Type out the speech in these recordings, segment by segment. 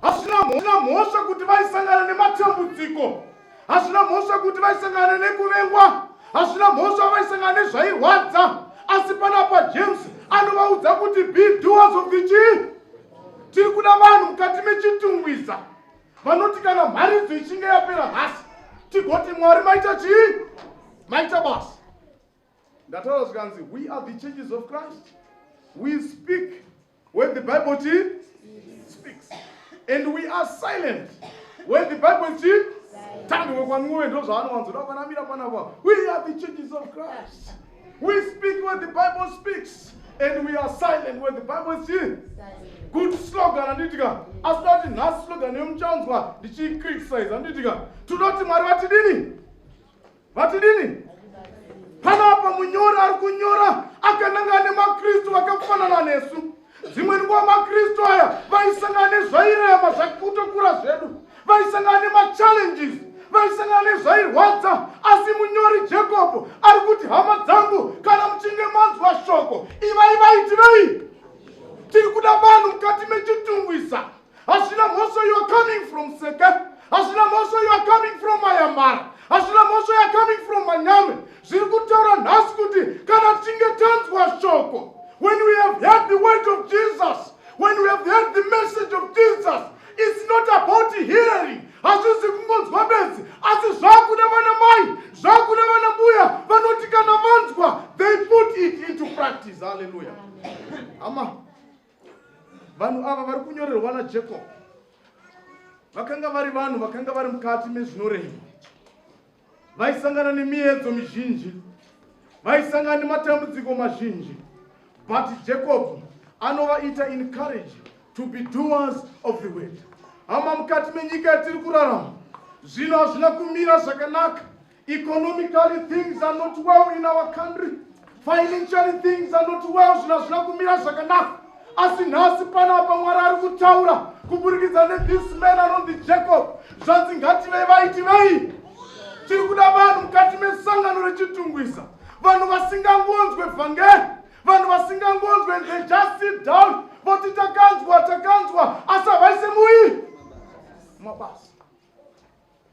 hazvina mhosva kuti vaisangana nematambudziko hazvina mhosva kuti vaisangana nekuvengwa hazvina mhosva vaisangana nezvairwadza asi panapa james anovaudza kuti biduas of the chii tiri kuda vanhu mukati mechitungwiza vanoti kana mharidzo ichinge yapera nhasi tigoti mwari maita chii maita basa Ndataura zvikanzi we are the churches of Christ. We speak when the Bible speaks. And we are silent when the Bible speaks. Tandwe kwanuwe ndozvaanowanzoda kwanamira panapa. We are the churches of Christ. We speak when the Bible speaks and we are silent when the Bible is here. Good slogan anditika. Asi dati nhasi slogan yemuchanzwa ndichiicriticize anditika. Tunoti Mwari vatidini? vatidini panapa munyori ari kunyora akananga ane makristu vakafanana nesu dzimwe nguva makristu aya vaisangana nezvairema zvakutokura zvedu vaisangana nemachallenges vaisangana nezvairwadza asi munyori jakobho ari kuti hama dzangu kana muchinge manzwa shoko ivai vaitirei tiri kuda vanhu mukati mechitungwisa hazvina mhosva you are coming from seke hazvina mhosva you are coming from mayamara hazvina mhosva you are coming from manyame zviri kutaura nhasi kuti kana tichinge tanzwa shoko when we have heard the word of jesus when we have heard the message of jesus it's not about hearing hazvizi kungonzwa bedzi asi zvakuda vana mai zvakuda vana mbuya vanoti kana vanzwa they put it into practice halleluya ama Vanhu ava vari kunyorerwa naJacob vakanga vari vanhu vakanga vari mukati mezvinorema, vaisangana nemiedzo mizhinji, vaisangana nematambudziko mazhinji, but Jacob anovaita encourage to be doers of the word. Hama, mukati menyika yatiri kurarama zvino hazvina kumira zvakanaka Economically things are not well in our country. Financially things are not well zvinhu hazvina kumira zvakanaka. Asi nhasi panapa Mwari ari kutaura kuburikidza nethis man anonzi Jacob. Zvanzi ngativei vaiti vei. Tiri kuda vanhu mukati mesangano rechitungwisa. Vanhu vasingangonzwe vhangeri. Vanhu vasingangonzwe and they just sit down voti takanzwa takanzwa asi havaise muyi mabasa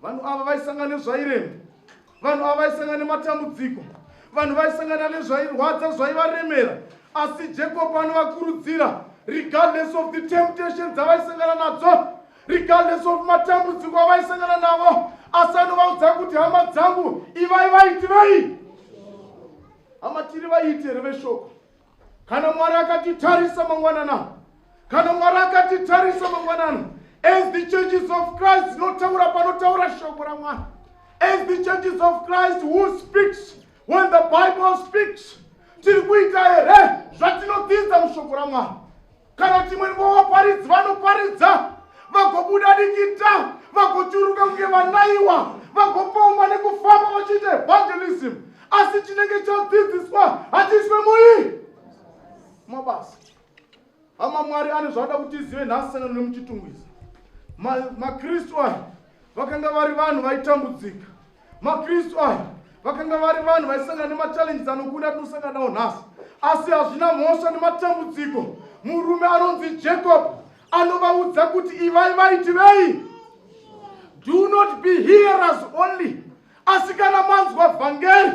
Vanhu ava vaisangana nezvairema, vanhu ava vaisangana nematambudziko, vanhu vaisangana nezvairwadza zvaivaremera, asi Jacob anovakurudzira regardless of the temptation dzavaisangana nadzo, regardless of matambudziko avaisangana navo, asi anovaudza kuti hama dzangu ivai vaitirei, hama tiri vaiti here veshoko kana mwari akatitarisa mangwanana kana mwari akatitarisa mangwanana as the churches of christ dzinotaura panotaura shoko ramwari as the churches of christ who speaks when the bible speaks tiri kuita here zvatinodzidza mushoko ramwari kana kuti imwe nguva vaparidzi vanoparidza vagobuda dikita vagochuruka kunge vanaiwa vagopongwa nekufamba vachiita evangelism asi chinenge chadzidziswa hachiiswe mui mabasa hama mwari ane zvavada kuti izive nhasi sangano nemuchitungwiza makristu aya vakanga vari vanhu vaitambudzika makristu aya vakanga vari vanhu vaisangana nemachallenges anokuda atinosangana nawo nhasi asi hazvina mhosva nematambudziko murume anonzi jacob anovaudza kuti ivai vaiti vei do not be hearers only asi kana manzwa vhangeri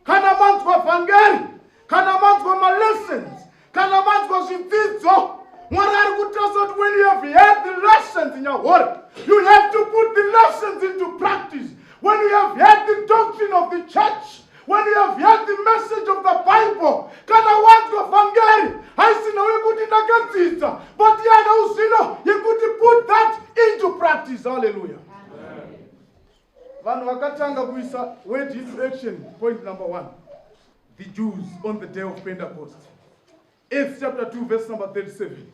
kana manzwa vhangeri kana manzwa malessons kana manzwa zvidzidzo mwari ari kutarisa kuti when you have heard the lessons in your word you have to put the lessons into practice when you have heard the doctrine of the church when you have heard the message of the bible kana wanzwa vhangeri haisina wekuti ndakadzidza but yana uzvino yekuti put that into practice halleluya vanhu vakatanga kuisa word into action point number one the Jews on the day of Pentecost. Acts chapter 2 verse number 37.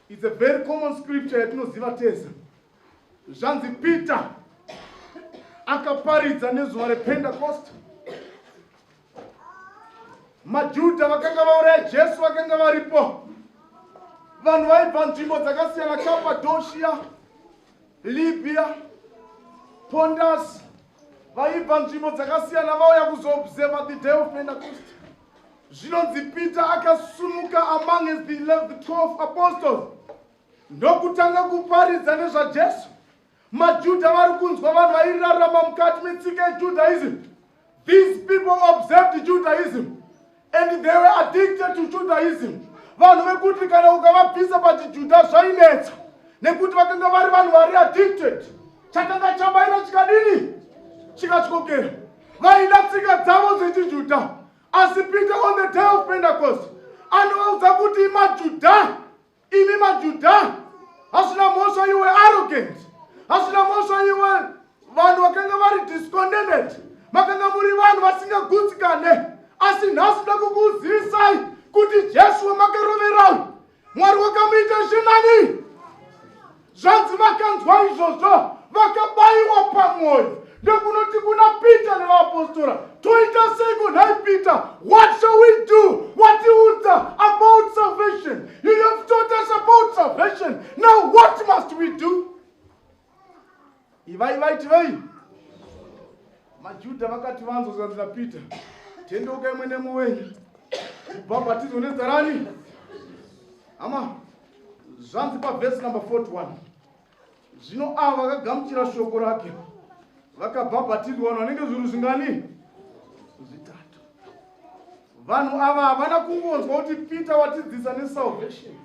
It's a very common scripture yatinoziva tese. Zvanzi Peter akaparidza nezuva rePentecost. MaJuda vakanga vauraya Jesu vakanga varipo. Vanhu vaibva nzvimbo dzakasiyana Cappadocia Libya, Pondas vaibva nzvimbo dzakasiyana vauya kuzoobserva the day of Pentecost. Zvinonzi Peter akasumuka among as the 12 apostles ndokutanga kuparidza nezvaJesu. MaJuda vari kunzwa vanhu vairarama mukati metsika yeJudaism These people observed Judaism and they were addicted to Judaism. Vanhu vekuti kana ukavabvisa pachiJuda zvainetsa nekuti vakanga vari vanhu vari addicted. Chakanga chabaira chikadini? Chikatyokera. Vaida tsika dzavo dzechiJuda. Asi Peter on the day of Pentecost anovaudza kuti maJuda Imi maJuda hazvina mhosva iwe arrogant. Hazvina mhosva iwe vanhu vakanga vari discontented. Makanga muri vanhu vasingagutsikane. Asi nhasi nda kukuzivisai kuti Jesu wamakarovera Mwari wakamuita zvinani. Zvanzi vakanzwa izvozvo vakabaiwa pamwoyo nekunoti kuna Peter nevaapostora, toita seiko nhai Peter? What shall we do? Watiudza about salvation. You have taught us about salvation. Now what must we do? Ivai vaitivei? MaJuda vakati vanzwa zvanzi naPeter, tendeuka imwe nemwe wenyu kubhabhatizwa nezita rani. Hama, zvanzi pavhesi number 41 zvino ava vakagamuchira shoko rake vakabhabhatidzwa vanhu vanenge zvinhu zvingani zvitatu vanhu ava havana kungonzwa kuti peter watidzisa nesalvation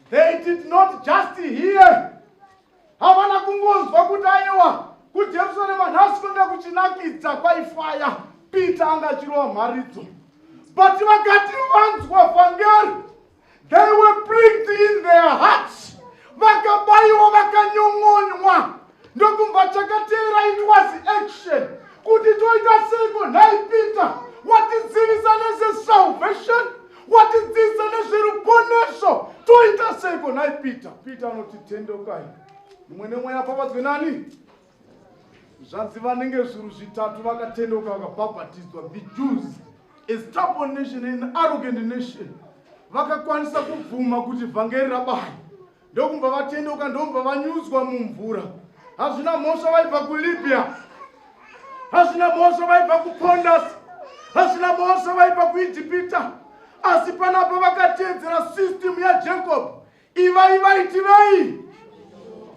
They did not just hear. Havana kungonzwa kuti aiwa kuJerusarema nhasi kwanga kuchinakidza kwaifaya Peter anga achirova mharidzo. But vakati vanzwa vhangeri, they were pricked in their hearts. Vakabaiwa vakanyon'onywa Ndokumva chakateera it was action kuti toita seiko nhai Peter watidzivisa nezesalvation watidzivisa nezveruponeso toita seiko nhai Peter Peter anoti tendokai mumwe nemwe yapavadzwe nani zvanzi vanenge zvuru zvitatu vakatendoka vakabhabhatidzwa the Jews a stubborn nation an arrogant nation vakakwanisa kubvuma kuti vhangeri rabayi ndokubva vatendeuka ndokubva vanyudzwa mumvura hazvina mhosva vaibva kulibya hazvina mhosva vaibva kupondas hazvina mhosva vaibva kuijipita asi panapa vakateedzera system yajacob ivai vaitirei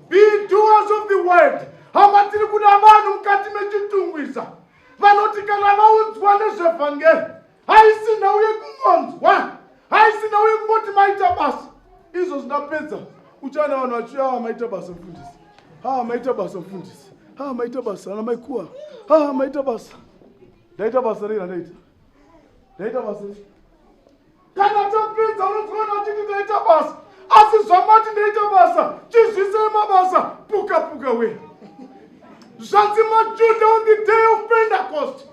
be doers of the world hama tiri kuda vanhu mukati mechitungwiza vanoti kana vaudzwa nezvevhangeri haisi nhau yekungonzwa haisi nhau yekungoti maita basa izvo zvingapedza uchaona vanhu vachiuya ava maita basa mfundisi ha maita basa mfundisi ha maita basa ana maikuwa ha maita basa ndaita basa rei randaita ndaita basa rei kana tapedza unozoona vachiti ndaita basa asi zvamati ndaita basa chizvisei mabasa puka puka we zvanzi majuda on the day of pentecost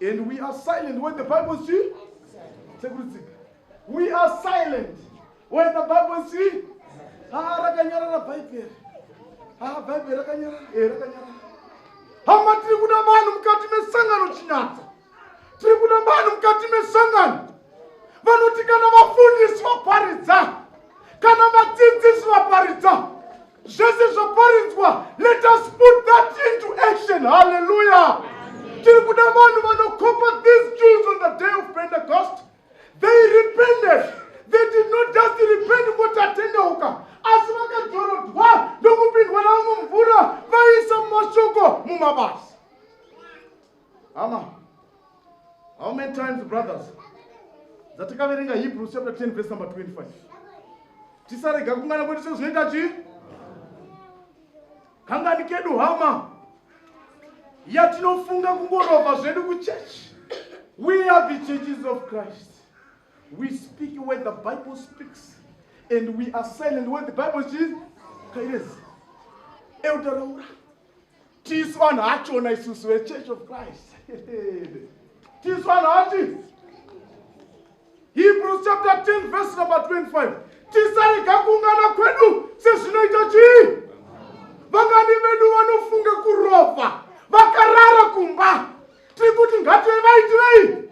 And we are silent when the Bible is true. We are silent when the Bible is true. Ah, rakanyarara Bible. Ah, Bible rakanyarara. Eh, rakanyarara. Hama tiri kuda vanhu mukati mesangano chinyatsa. Tiri kuda vanhu mukati mesangano. Vanoti kana vafundisi vaparidza, kana vadzidzisi vaparidza, zvese zvaparidzwa let us put that into action hallelujah tiri kuda vanhu vanokopa these jews on the day of pentecost they repented they did not just repent votatendeuka asi vakadzorodwa ndokupindwa navo mumvura vaisa mashoko mumabasa Hama, how many times brothers dzatakaverenga Hebrews chapter 10 verse number 25 tisarega kungana kwedu sezvinoita chii kangani kedu hama yatinofunga kungorova zvedu kuchechi we are the churches of christ we speak when the bible speaks and we are silent when the bible is kairezi eutaraura tisu vanhu achona isusu vechurch of christ tisu vanhu ati hebrews chapter 10 verse number 25 tisarega kuungana kwedu sezvinoita chii vangani vedu vanofunga kurova vakarara kumba tiri kuti ngative vaitirei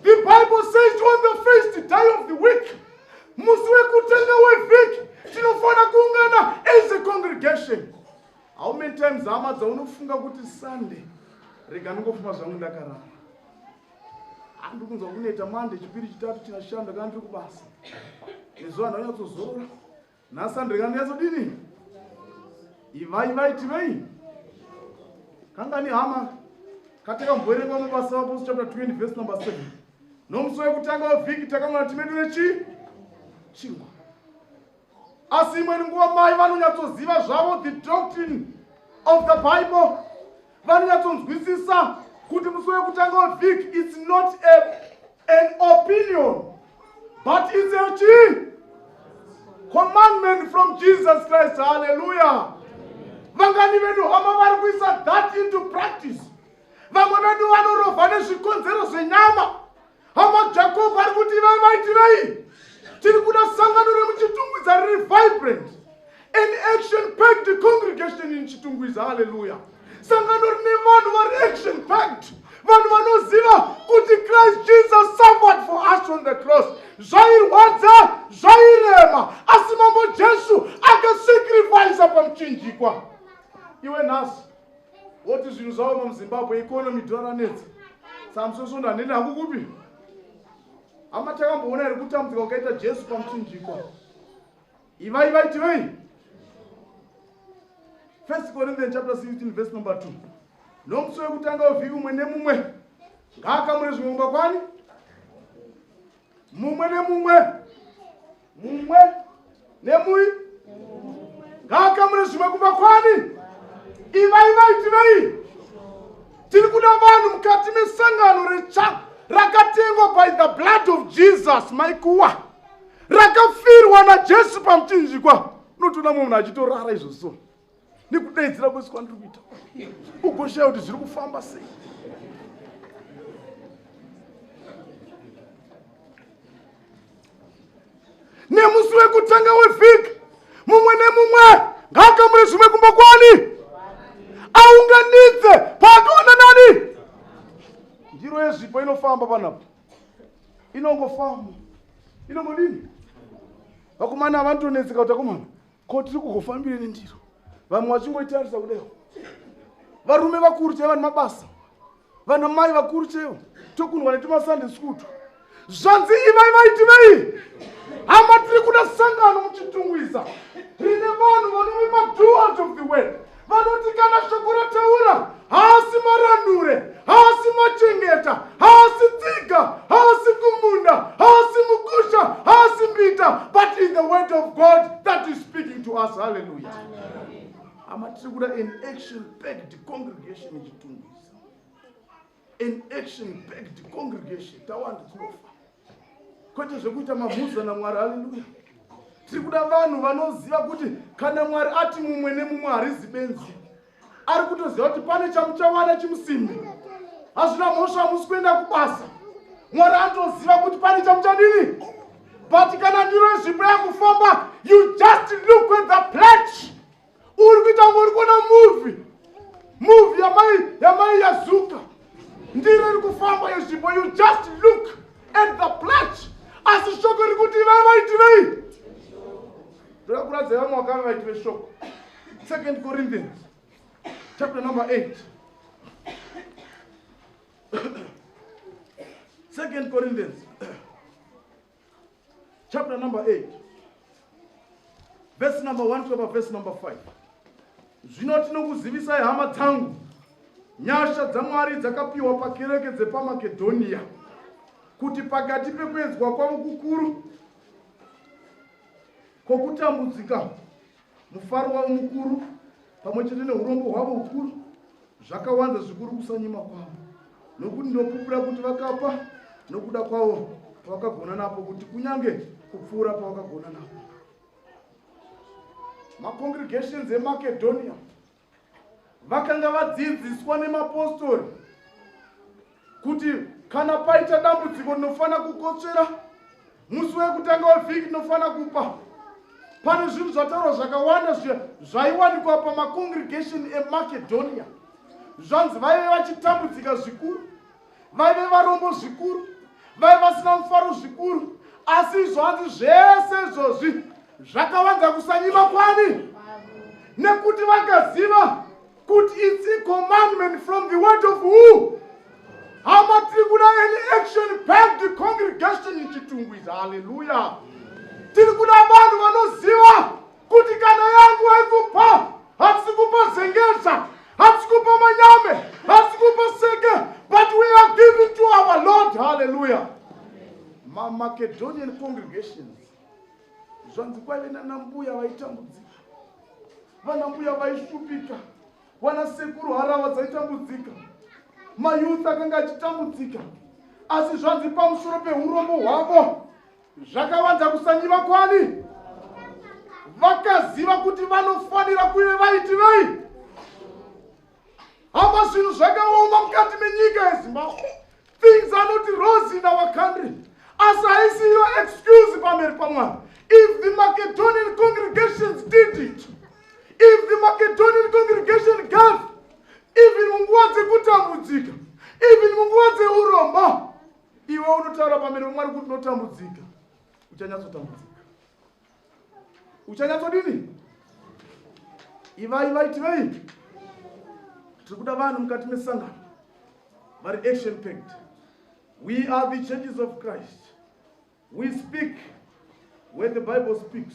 the bible says on the first day of the week musi wekutanga wevhiki tinofanira kuungana as a congregation How many times hama dzaunofunga kuti Sunday rega ndingofuma zvangu ndakarara. Andikunzwa kuneta Monday chipiri chitatu china shanda kana ndiri kubasa. Nezuva ndanyatsozoora. Na Sunday kana nyatsodini? Ivai vai tivei. Kanga ni hama katika mboerengwa mabasa apo chapter 20 verse number 7. Nomusi wekutanga wevhiki takamwana timedu nechi chingwa. asi imweni nguva mai vanonyatsoziva zvavo the doctrine of the bible vanonyatsonzwisisa kuti musi wekutanga wevhiki its not a, an opinion but its a chi commandment from jesus christ halleluya vangani vedu hama vari kuisa that into practice vamwe vedu vanorovha nezvikonzero zvenyama Hama Jacob ari kuti ivai maitirei? Tiri kuda sangano remuChitungwiza riri vibrant. An action-packed congregation in Chitungwiza, hallelujah. Sangano rine vanhu vari action-packed. Vanhu vanoziva kuti Christ Jesus suffered for us on the cross. Zvairwadza, zvairema, asi Mambo Jesu akasacrifice pamuchinjikwa. Iwe nhasi Woti zvinhu zvaoma muZimbabwe economy dhora ranetsa. Samson Sondo hanene hangu kupi? Hama takamboona here kutambudzika kwakaita Jesu pamuchinjikwa? Ivai vaiti vei? First Corinthians chapter 16 verse number 2. Nomusi wekutanga wevhiki umwe nemumwe ngaakamure zvimwe mumba kwani? mumwe nemumwe mumwe nemui ngaakamure zvimwe kumba kwani ivai vaitirei tiri kuda vanhu mukati mesangano retsva rakatengwa by the blood of jesus maikuwa rakafirwa najesu pamuchinjikwa unotoona mumwe munhu achitorara izvozvo nekudaidzira kwese kwandiri kuita ugoshaya kuti zviri kufamba sei nemusi wekutanga wevhiki mumwe nemumwe ngaakamure zvimwe kumba kwani aunganidze paakaona nani ndiro yezvipo inofamba panapo inongofamba inongodini vakomana havanditonetseka kuti akomana ko tiri kugofambire nendiro vamwe vachingoitarisa kudeo varume vakuru chaiva nemabasa vana mai vakuru chaivo tokunwa netumasande skutu zvanzi ivai vaitivei hama tiri kuda sangano muchitungwiza rine vanhu vanove maduart of the world vanoti kana shoko rataura haasi marandure haasi machengeta haasi tsiga haasi kumunda haasi mukusha haasi mbita but in the word of god that is speaking to us halleluya hama tiri kuda an action packed congregation ichitungu an action packed congregation tawanda tinofa kwete zvekuita mamhuza namwari haleluya tiri kuda vanhu vanoziva kuti kana mwari ati mumwe nemumwe harizi benzi ari kutoziva kuti pane chamuchawana chimusimbi hazvina mhosva hamusi kuenda kubasa mwari anotoziva kuti pane chamuchadini but kana ndiro zvipo yakufamba you just look at the pledge uri kuita kunge uri kuona muvi muvi yamai yamai yazuka ndiro iri kufamba yezvimbo you just look at the plat asi shoko riri kuti ivai vaitirei ndoda kuratidza vamwe vakanga vaitire shoko second corinthians chapter number 8 second corinthians chapter number 8 vhesi number 1 kusvika pavhesi number 5 zvino tinokuzivisai hama dzangu nyasha dzamwari dzakapiwa pakereke dzepamakedhoniya kuti pakati pekuedzwa kwavo kukuru kwokutambudzika Mufaro wavo mukuru pamwe chete neurombo hwavo hukuru zvakawanza zvikuru kusanyima kwavo, nokuti ndinopupura kuti vakapa nokuda kwavo pavakagona napo, kuti kunyange kupfuura pavakagona napo. Macongregations eMacedonia vakanga vadzidziswa nemapostori kuti kana paita dambudziko ndinofanira kukotsvera musi wekutanga wevhiki ndinofanira kupa pane zvinhu zvataurwa zvakawanda zvaiwanikwa pamacongregation emacedonia zvanzi vaive vachitambudzika zvikuru vaive varombo zvikuru vaive vasina mufaro zvikuru asi izvo hanzi zvese izvozvi zvakavanza kusanyima kwani nekuti vakaziva kuti its a commandment from the word of who hama tiri kuda any action back the congregation ichitungwiza haleluya tiri kuda vanhu vanoziva kuti kana yangu haikupa hatisi kupa zengeza hatisi kupa manyame hatisi kupa seke but we are giving to our lord hallelujah mamacedonian congregations zvanzi kwaive nanambuya vaitambudzika vanambuya vaishupika vana sekuru harava dzaitambudzika mayouth akanga achitambudzika asi zvanzi pamusoro peurombo hwavo Zvakavanza kusanyiva kwani? Vakaziva kuti vanofanira kuve vaitirei? Hama zvinhu zvakaoma mukati menyika yeZimbabwe. Things are not rosy in our country. Asi haisi iyo excuse pamberi paMwari. If the Macedonian congregations did it, if the Macedonian congregation gave, even munguva dzekutambudzika, even munguva dzeuromba, Iwe unotaura pamberi pamwari kuti unotambudzika, uchanyatsotambudzika. Uchanyatsodini? Ivai vaiti vei? Tiri kuda vanhu mukati mesangano vari action packed. We are the churches of Christ. We speak where the Bible speaks.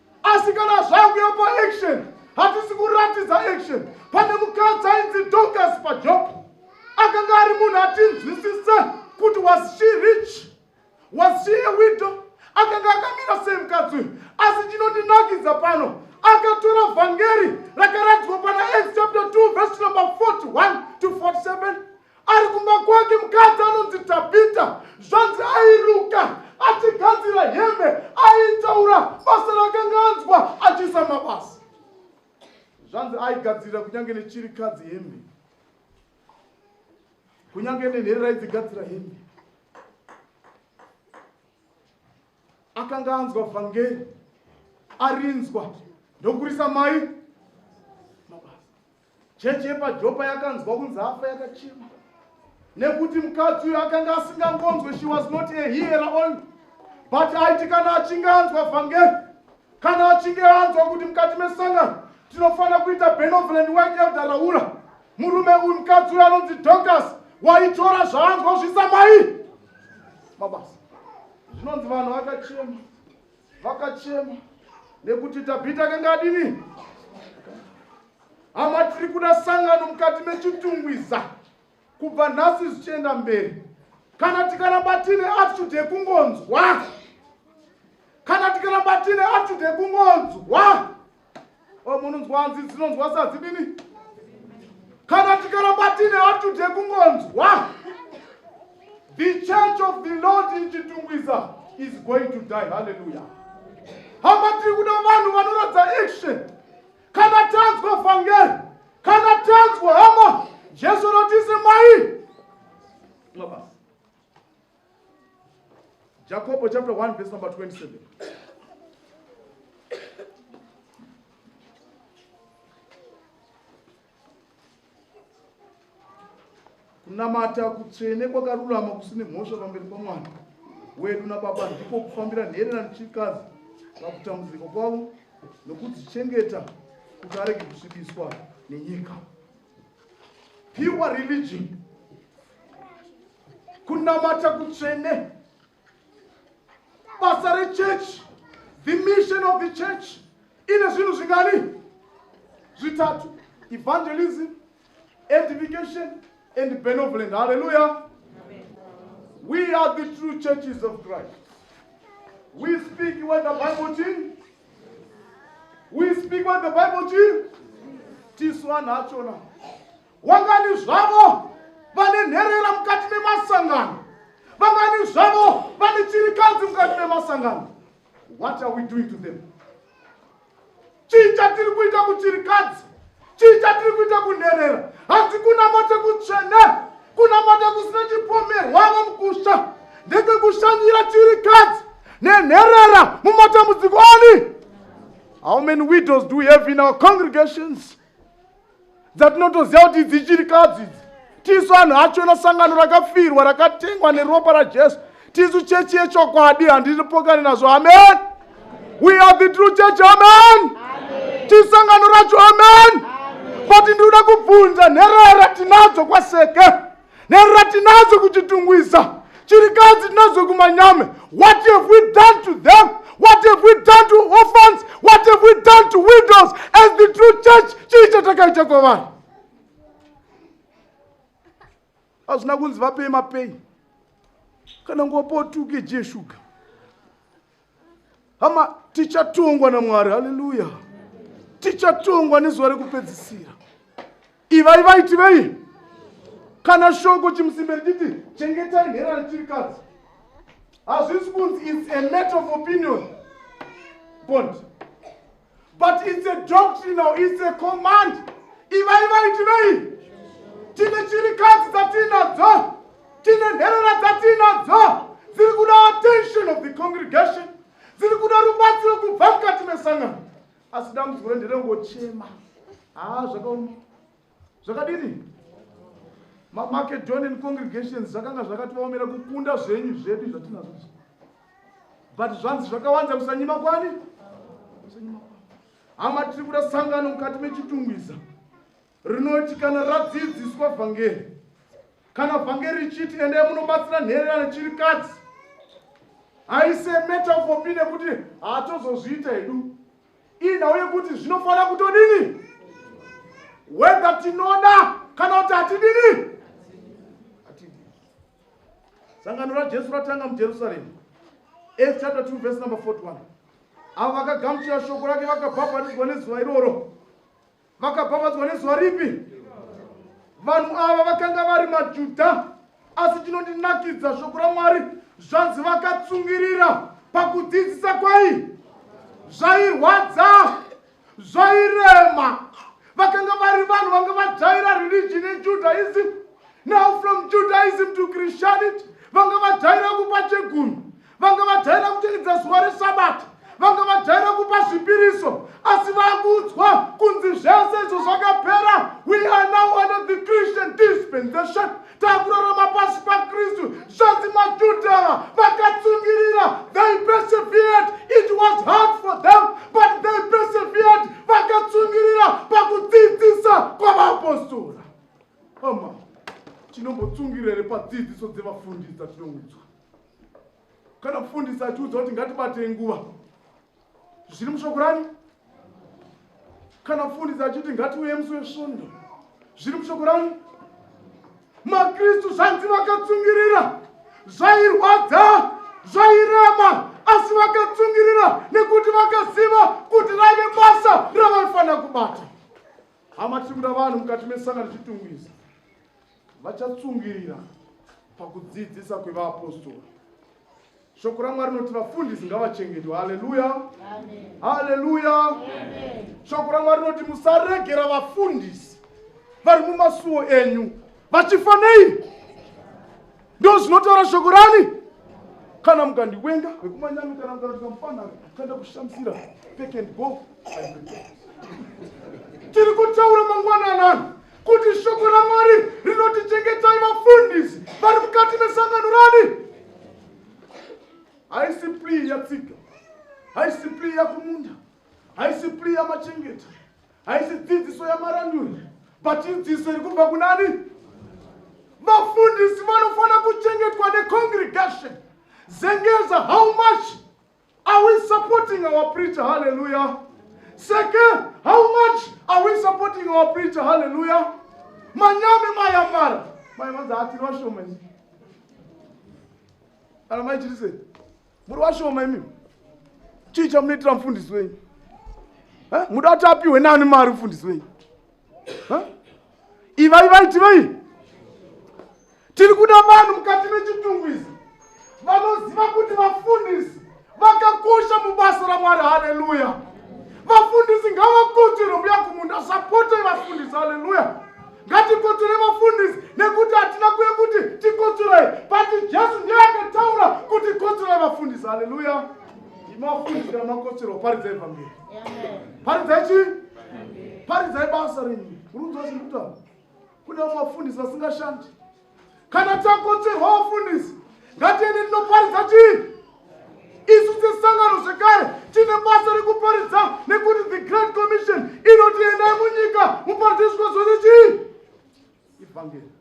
asi kana zvakuya paaction hatisi kuratidza action pane mukadzi ainzi docas pajob akanga ari munhu atinzwisise kuti was she rich was she a widow akanga akamira sei mukadzi uyu asi chinondinakidza pano akatora vhangeri rakaradzwa pana acts chapter 2 vhesi number 41 to 47 ari kumba kwake mukadzi anonzi tabhita zvanzi airuka achigadzira hembe aitaura basa rakanga anzwa achiisa mabasa zvanzi aigadzirira kunyange nechirikadzi hembe kunyange nenherera aidzigadzira hembe akanga anzwa vhangeri arinzwa ndokurisa mai Chechi yepaJopa yakanzwa kunzi afa yakachema nekuti mukadzi uyo akanga asingangonzwe she was not a hearer only but aiti kana achinge anzwa vhangeri kana achinge anzwa kuti mukati mesangano tinofanira kuita benoveland wake elder raura murume uyu mukadzi uyo anonzi docas waitora zvaanzwa zvisamai mabasa zvinonzi vanhu vakachema vakachema nekuti tabhita akanga adini hama tiri kuda sangano mukati mechitungwiza kubva nhasi zvichienda mberi kana tikaramba tine attitude yekungonzwa kana tikaramba tine attitude yekungonzwa o munonzwa hanzi dzinonzwa sadzidini kana tikaramba tine atude kungonzwa the church of the lord in chitungwiza is going to die halleluya hama tiri kuda vanhu vanoratidza action kana tanzwa vhangeri kana tanzwa hama jesu rotisi mai mabasa Jacob chapter 1 verse number 27. kunamata kutsvene kwakarurama kusine mhosva pamberi pamwana wedu nababa ndiko kufambira nherera nechikazi pakutambudziko kwavo nokudzichengeta kuti arege kusvibiswa nenyika pure religion kunamata kutsvene basa rechurch the mission of the church ine zvinhu zvingani zvitatu evangelism edification and benevolent hallelujah we are the true churches of christ we speak what the bible teach we speak what the bible chii tisu vanhu achona wangani zvavo vane nherera mukati memasangano vangani zvavo vane chirikadzi mukati memasangano what are we doing to them chii chatiri kuita kuchirikadzi Chii chatiri kuita kunherera? Hatikunamate kutsvene, kunamata kusina chipomerwavo mukusha ndekekushanyira chirikadzi nenherera mumatambudziko ani? How many widows do we have in our congregations? dzatinotoziva kuti idzichirikadzi idzi tisu anhu achona sangano rakafirwa rakatengwa neropa rajesu tisu chechi yechokwadi handipokani nazvo amen we are the true church amen tisangano racho amen but ndinoda kubvunza nherera tinadzo kwaseke nherera tinadzo kuchitungwiza chirikadzi tinadzo kumanyame what have we done to them what have we done to orphans what have we done to widows as the true church chii chatakaita kwavanhu hazvina kunzi vapei mapei kana nguva potuke je shuga hama tichatongwa namwari haleluya tichatongwa nezuva rekupedzisira ivai vaiti vei kana shoko chimusimbe richiti chengetai nhera rechirikadzi hazvisi kunzi its a matter of opinion bond but it's a doctrinal it's a command ivai vaiti vei tine chirikadzi dzatiinadzo tine nherera dzatiinadzo dziri kuda attention of the congregation dziri kuda rubatsiro kubva mukati mesangano asi dambudziko renderengochema haa zvakaoma Zvakadini? Macedonian congregations zvakanga zvakativaomera kukunda zvenyu zvedu zvatinazvo izvi. But zvanzi zvakawanza kusanyima kwani? Kusanyima kwani? Hama tiri kuda sangano mukati mechitungwiza rinoti kana radzidziswa vhangeri kana vhangeri richiti endai munobatsira nhererano chiri kadzi haise metafopi nekuti hatozozviita hedu inhau yekuti zvinofanira kutodini wedha tinoda kana kuti hatidini sangano rajesu ratanga mujerusaremu as chapter 2 verse number 41 avo vakagamuchira shoko rake vakabhabhatidzwa nezuva iroro Vakapamhadzwa nezuva ripi? Vanhu ava vakanga vari maJudha, asi chinondinakidza shoko raMwari zvanzi vakatsungirira pakudzidzisa kwai zvairwadza zvairema vakanga vari vanhu vanga vajaira religion yejudaism now from judaism to christianity vanga vajaira kupa chegumi vanga vajaira kuteredza zuva resabata vanga vajaira kupa zvipiriso asi vakuudzwa kunzi zvese izvo zvakapera we are now under the christian dispensation takurarama pasi pakristu zvanzi majudha ava vakatsungirira they persevered it was hard for them but they persevered vakatsungirira pakudzidzisa kwavapostora ama tinombotsungirere padzidziso dzevafundisi dzatinoudzwa kana mfundisi atiudza kuti ngatibatei nguva zviri mushoko rani kana mfundisi achiti ngatiuye musi wesvondo zviri mushoko rani makristu zvanzi vakatsungirira zvairwadza zvairema asi vakatsungirira nekuti vakaziva kuti raive basa ravaifanira kubata hama tiri kuda vanhu mukati mesangano chitungwiza vachatsungirira pakudzidzisa kwevaapostora shoko ramwari rinoti vafundisi ngavachengetwe haleluya haleluya shoko ramwari rinoti musaregera vafundisi vari mumasuwo enyu vachifa nei Ndo zvinotaura shoko rani. Kana mukandiwenga vekumanyami kana mukandiita mufana kana kushamisira take and go. Tiri kutaura mangwana anani kuti shoko raMwari rinoti chengetai vafundisi vari mukati mesangano rani. Haisi plea yatsika. Haisi plea yakumunda. Haisi plea yamachengeta. haisi dzidziso yamaranduri but idzidziso iri kubva kunani vafundisi vanofanira kuchengetwa necongregation zengeza how much are we supporting our preacher halleluya seke how much are we supporting our preacher halleluya manyame mayamara maivanzi hatiri vashoma kana maichirisei muri vashoma imi chii chamunoitira mufundisi wenyu muda kuti apihwe nani mari mufundisi wenyu ivai vaitivei tiri kuda vanhu mukati mechitungu izi vanoziva kuti vafundisi vakakosha mubasa ramwari haleluya vafundisi ngavakutirwe mbuya kumunda sapotei vafundisi haleluya Ngatikotsore vafundisi nekuti hatina kuye kuti tikotsorei but Jesu ndiye akataura kuti kotsorai vafundisi. Haleluya. Imafundisi kana makotsora paridza evhangeri. Paridza chi? Paridza basa renyu. Muri kuziva zviri kutaura. Kune vamwe vafundisi vasingashandi. kana takotsverwa vafundisi ngatiende tinoparidza chii isu sesangano zvekare tine basa rekuparidza nekuti the grand commission inoti endai munyika muparidze zvikwa zvose chii ivhangeri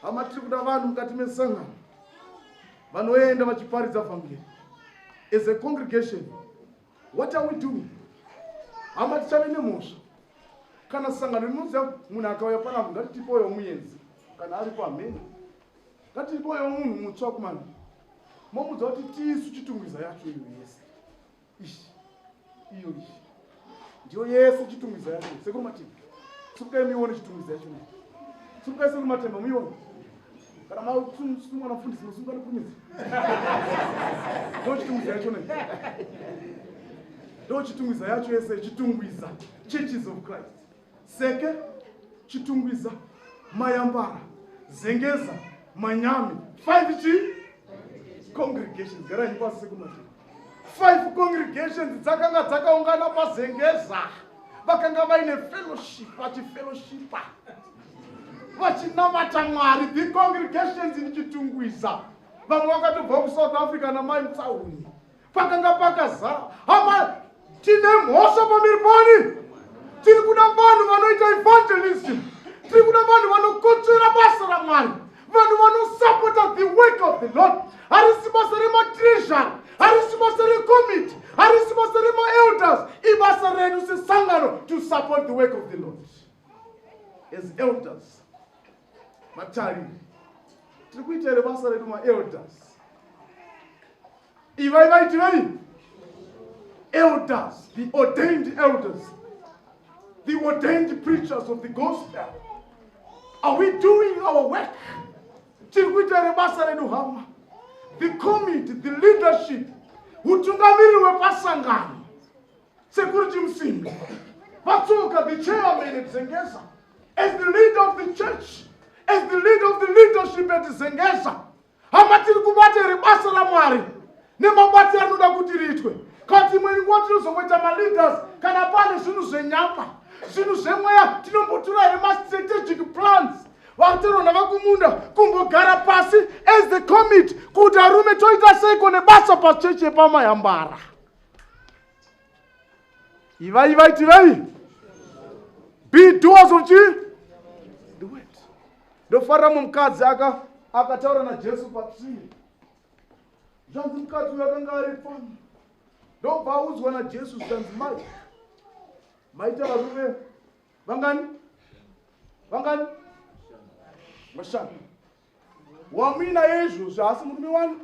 hama tiri kuda vanhu mukati mesangano vanoenda vachiparidza vhangeri as a congregation What are we doing? Hama tichave nemhosva kana sangano rinoziva kuti munhu akauya panavo ngatitipoyo muyenzi kana aripo hamene ngatitipoyo munhu mutsva kumana momudza kuti tisu chitungwiza yacho iyo yese ishi iyo ishi ndiyo yese chitungwiza yacho sekuru matemba sukukai muione chitungwiza yacho sukukai sekuru matemba muione kana mausungwa namfundisi musungwa neprimizi ndochitungwiza yacho ne ndochitungwiza yacho yese chitungwiza churches of christ seke chitungwiza mayambara zengeza manyami five chi congregations garai pasi sekumati Five congregations dzakanga dzakaungana pazengeza vakanga vaine fellowship vachifellowshipa vachinamata mwari the congregations in chitungwiza vamwe vakatobva kusouth africa namai mutsauni pakanga pakazara hama tine mhosva pamberi pani tiri kuda vanhu vanoita evangelism tiri kuda vanhu vanokotsvera basa ramwari vanhu vanosapota the work of the lord harisi basa rematreasury harisi basa recommitte harisi basa remaelders ibasa redu sesangano to support the work of the lord as elders Matariri, tiri kuita here basa redu maelders? Ivai vaiti vei? Elders, the ordained elders, the ordained preachers of the gospel. Are we doing our work? Tiri kuita here basa redu hama? The committee, the leadership, hutungamiriri wepasangano Sekuru Chimusimbi vatsuka the chairman at Zengeza as the leader of the church as the leader of the leadership at Zengeza hama tiri kubata here basa raMwari nemabasa anoda kuti riitwe kati imwe nguva tinozongoita maleaders kana pane zvinhu zvenyama zvinhu zvemweya tinombotura here mastrategic plans vatero navakumunda kumbogara pasi as the commit kuti arume toita seiko nebasa pachechi yepamayambara Ivai, ivai, tivai. Be doers of chi? The word. Ndofarira mumwe mukadzi aka akataura naJesu patsvii. Zvanzi mukadzi uyo akanga ari pano. Ndobva audzwa naJesu zvanzi mai. Maita varume vangani? Vangani? Vashanu. wamuinaye izvozvi haasi murume wani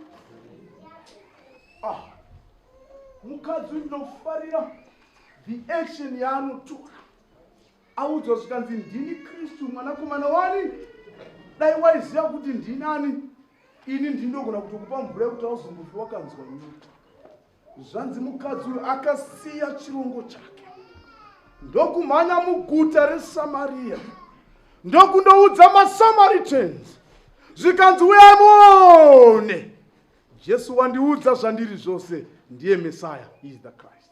ah. mukadzi uyu ndinofarira the action yaanotora audzwa zvikanzi ndini kristu mwanakomana wani dai waiziva kuti ndinani ini ndindogona kutokupa mvura yekuti auzombofi wakanzwa nyota Zvanzi mukadzi uyo akasiya chirongo chake ndokumhanya muguta reSamaria ndokundoudza maSamaritans zvikanzi uyai muone Jesu wandiudza zvandiri zvose ndiye Messiah is the Christ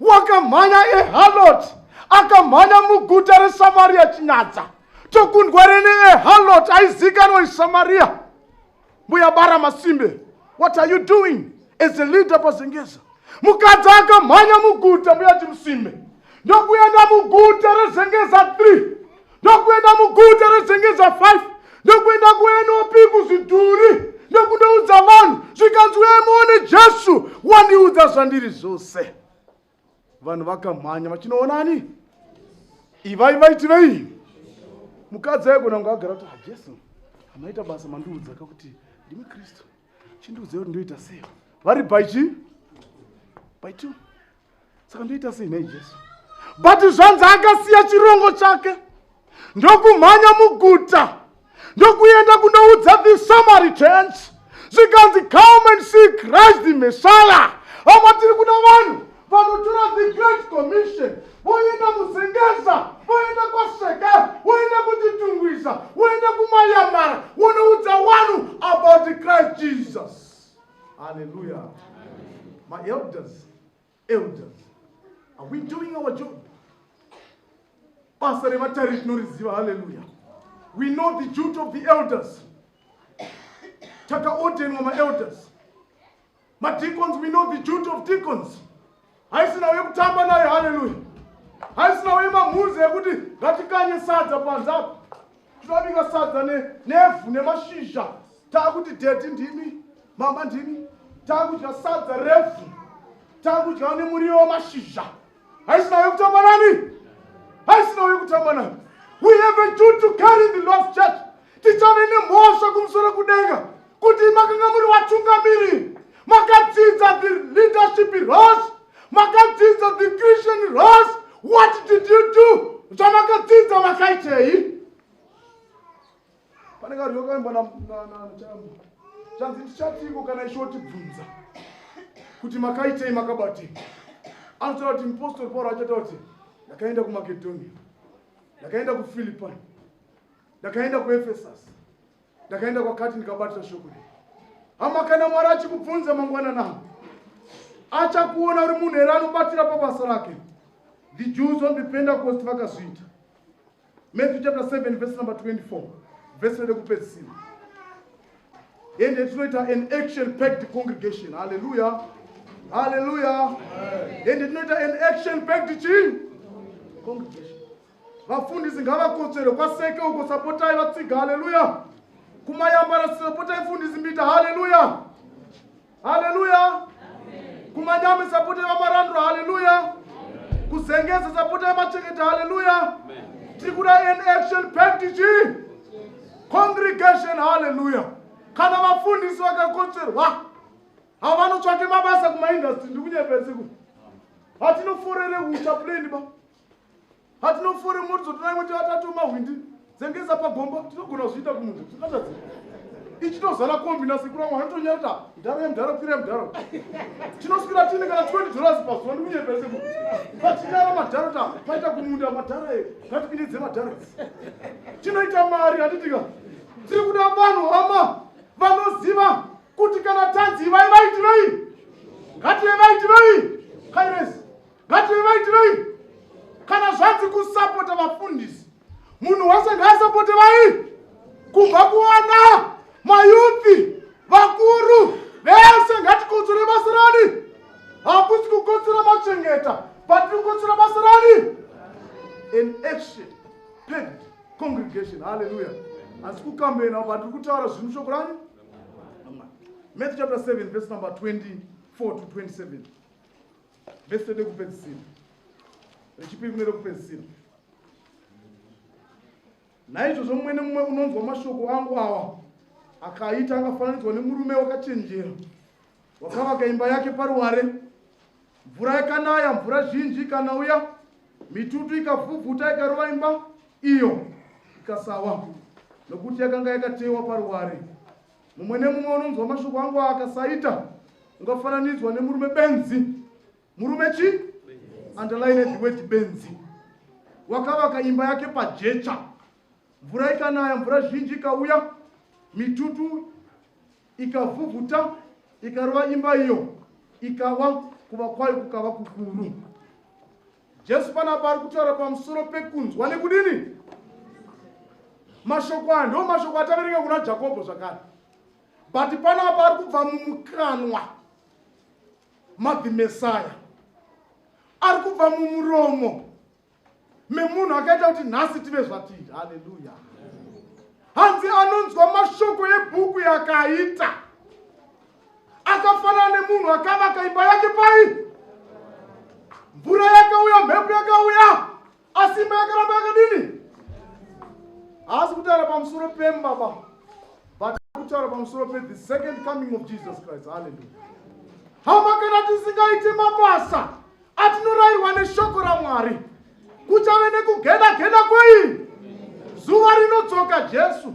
wakamhanya ehalot akamhanya muguta reSamaria chinyadza tokundwa rene ehalot aizikanwa iSamaria Mbuya Bara Masimbe, what are you doing as a leader paZengeza? Mukadzi akamhanya muguta mbuya Chimusimbe ndokuenda muguta reZengeza 3 ndokuenda muguta reZengeza 5 ndokuenda kuNOP kuzvidhuri ndokundoudza vanhu zvikanzi uye muone Jesu wandiudza zvandiri zvose. vanhu vakamhanya vachinoona ani ivai vaitirei mukadzi aigona kunge agara kuti hajesu ah, amaita basa mandiudza ka kuti ndimi kristu chindiudzai kuti ndoita sei vari baichi baitu saka ndoita sei nhai jesu but zvanzi akasiya chirongo chake ndokumhanya muguta ndokuenda kunoudza the samaritans zvikanzi come and see christ the messiah apa tiri kuda vanhu vanotora the great commission voenda muzengeza voenda kwaseka voenda kutitungwiza voenda kumayamara vonoudza wanu about christ jesus haleluya maelders Elders, are we doing our job? Basa revatari tinoriziva, haleluya. We know the duty of the elders. Takaordenwa maelders. Madeacons, we know the duty of deacons. Haisi nawo yekutamba nayo, haleluya. Haisi nawo yemamhuzi ekuti ngatikanye sadza panze apa. Tinobika sadza ne, nevhu nemashizha. Takuti daddy ndimi, mama ndimi. Takudya sadza revhu. Takudya nemuriwo wemashizha. Haisina uye kutamba nani? Haisina uye kutamba nani? We have a duty to carry in the Lord's church. Tichave nemhosva kumusoro kudenga. kuti makanga muri vatungamiri makadzidza the leadership rose makadzidza the christian rose what did you do zvamakadzidza makaitei pane karyo kaimba nachambo zvanzi ndichatiko kana ishiwo tibvunza kuti makaitei makabatei anotaura kuti mupostori pauro achataura kuti ndakaenda kumakedhonia ndakaenda kufilipai ndakaenda kuefesasi ndakaenda kwakati ndikabatira shoko rei hama kana mwari achikubvunza mangwanana achakuona uri munhu here anobatira pabasa rake the jews on the pentecost vakazviita matthew chapter 7 verse number 24 vese rede kupedzisira ende tinoita an action packed congregation halleluya halleluya ende tinoita an action packed chii congregation Vafundisi ngavakotsvere kwaseke uko sapotai vatsiga haleluya. Kumayambara sapotai mfundisi mbita haleluya. Haleluya. Kumanyame sapotai vamarandura haleluya. Kuzengeza sapotai macheketa haleluya. Tiri kuda an action package congregation haleluya. Kana vafundisi vakakotsverwa havanotsvake mabasa kumaindustry ndiri kunyeperesiku. Hatinoforere ucha plain ba. hatinofori muridzo tona imwe tivatatu mahwindi dzengeza pagomba tinogona kuzviita kumunhu zvingatadzi ichitozara kombi nasikuramwa hanotonyarita ndaro yemudharo pira yemudharo tinoswira tine kana 20 dollars pazuva ndikunyepese mu patinyara madharo ta paita kumunda madhara e ngatipindidze madhara tinoita mari handitika tiri kuda vanhu hama vanoziva kuti kana tanzi ivai vaitirei ngatiye vaitirei kairesi Ngative vaitirei kana zvanzi kusapota vafundisi munhu wese ngaasapote vai kubva kuwana mayuthi vakuru vese ngatikotsore basa rani hakusi kukotsora machengeta but kukotsora basa rani an action packed congregation halleluya asi kukambena but tiri kutaura zvinhu shoko rani matthew chapter 7 verse number 24 to 27 Vese rekupedzisira rechipiri nerekupedzisira. Naizvozvo mumwe nemumwe unonzwa mashoko angu awa akaita akafananidzwa nemurume wakachenjera wakavaka imba yake paruware. Mvura yakanaya, mvura zhinji ikanauya, mitutu ikavhuvhuta ikarova imba iyo ikasawa, nokuti yakanga yakatewa paruware. mumwe nemumwe unonzwa mashoko angu akasaita ungafananidzwa nemurume benzi murume chi underline the word benzi wakavaka imba yake pajecha mvura ikanaya mvura zhinji ikauya mitutu ikavhuvhuta ikarova imba iyo ikawa kuva kwayo kukava kukuru Jesu panapa ari kutaura pamusoro pekunzwa nekudini mashoko aya ndo mashoko ataverenga kuna jakobho zvakare but panapa ari kubva mumukanwa madhimesaya ari kubva mumuromo memunhu akaita kuti nhasi tive zvatii haleluya hanzi anonzwa mashoko ebhuku yakaita akafanana nemunhu akavaka imba yake pai mvura yakauya mhepo yakauya asi imba yakaramba yakadini haasi kutaura pamusoro pemba ba but kutaura pamusoro pe the second coming of jesus christ halleluya hama kana tisingaite mabasa atinorairwa neshoko ramwari kuchave nekugeda geda kwei zuva rinodzoka jesu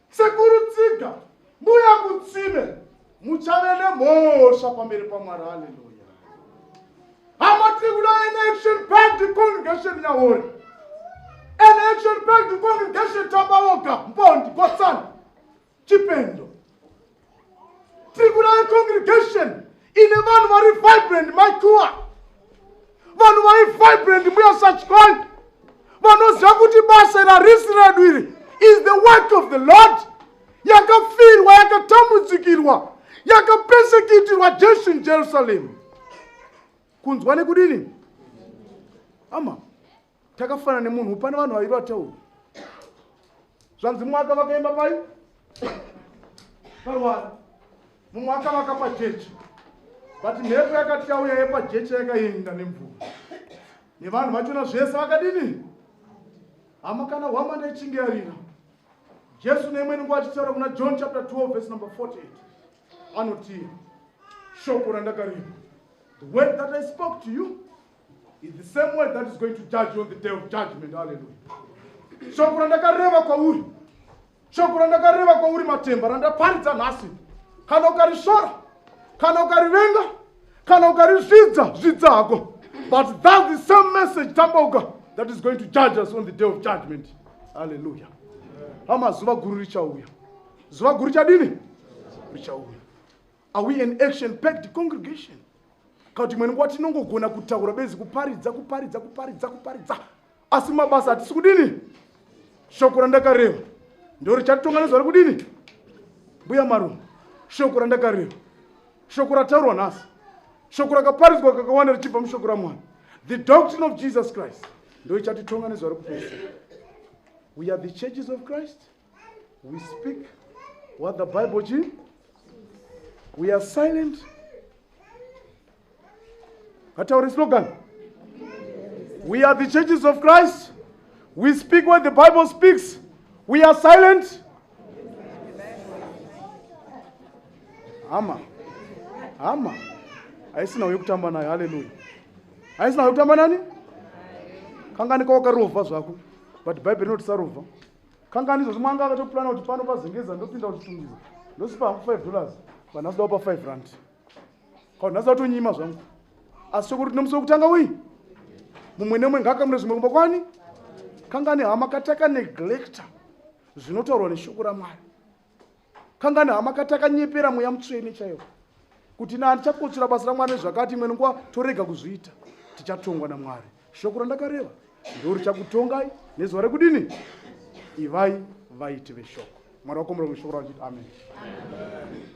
Sekuru Tsiga, mbuya Kutsime, muchave nemhosva pamberi paMwari. Haleluya. Hama tiri kuda an action packed congregation Nyawori. An action packed congregation Tambaoka, Mpondi, Kotsani, Chipendo. Tribunal congregation ine vanhu vari vibrant maikuwa vanhu vari vibrant mbuya sachikoi vanoziva kuti basa rarisi redu iri is the work of the lord yakafirwa yakatambudzikirwa yakapesekitirwa jesu in jerusalem kunzwa nekudini ama Takafana nemunhu pane vanhu vaviri vatauri. Zvanzi mwaka vakaimba pai? Parwara. Mumwaka vakapa jecha. But mhepo yakati yauya yepa jecha yakaenda nemvura. Nevanhu vachona zvese vakadini? Hama kana hwama ndechinge yarira. Jesu neimweni nguva achitaura kuna John chapter 12 verse number 48. Anotii shoko randakarima. The word that I spoke to you It's the same word that is going to judge you on the day of judgment. Hallelujah. Shoko randakareva kwauri. Shoko randakareva kwauri matemba randaparidza nhasi. Kana ukarishora, kana ukarivenga, kana ukarizvidza, zvidza hako. But that's the same message tambauka that is going to judge us on the day of judgment. Hallelujah. Hama zuva guru richauya. Zuva guru chadini? Richauya. Are we an action packed congregation? Kana kuti imwe nguva tinongogona kutaura benzi kuparidza kuparidza kuparidza kuparidza asi mabasa hatisi kudini shoko randakareva ndo richatitonga nezva ri kudini mbuya marume shoko randakareva shoko rataurwa nhasi shoko rakaparidzwa kakawanda richibva mushoko ramwana the doctrine of jesus christ ndo ichatitonga nezva ri kupesa we are the churches of christ We speak what the Bible chi. We are silent. Hatauri slogan. We are the churches of Christ. We speak what the Bible speaks. We are silent. Ama. Ama. Haisina uyo kutamba nayo. Hallelujah. Haisina uyo kutamba nani? Kanganika wakarova zvako. But Bible rinotisarova. kangani izvozvo mwanga akatopurana kuti pano pazengeza ndopinda kuchitungiza ndosipa hangu five dollars vanhu asi daupa five rand kaunhu asi vatonyima zvangu asi chokuti tinomusi wekutanga uyi mumwe nemwe ngaakamure zvimwe kumba kwani kangani hama kataka neglecta zvinotaurwa neshoko ramwari kangani hama kati akanyepera mweya mutsvene chaiwo kuti na ndichakotsvira basa ramwari nezvakati imwe nguva torega kuzviita tichatongwa namwari shoko randakareva ndo richakutongai nezuva rekudini ivai vaiti veshoko mwari wakomera kushoko rachiti amen, amen.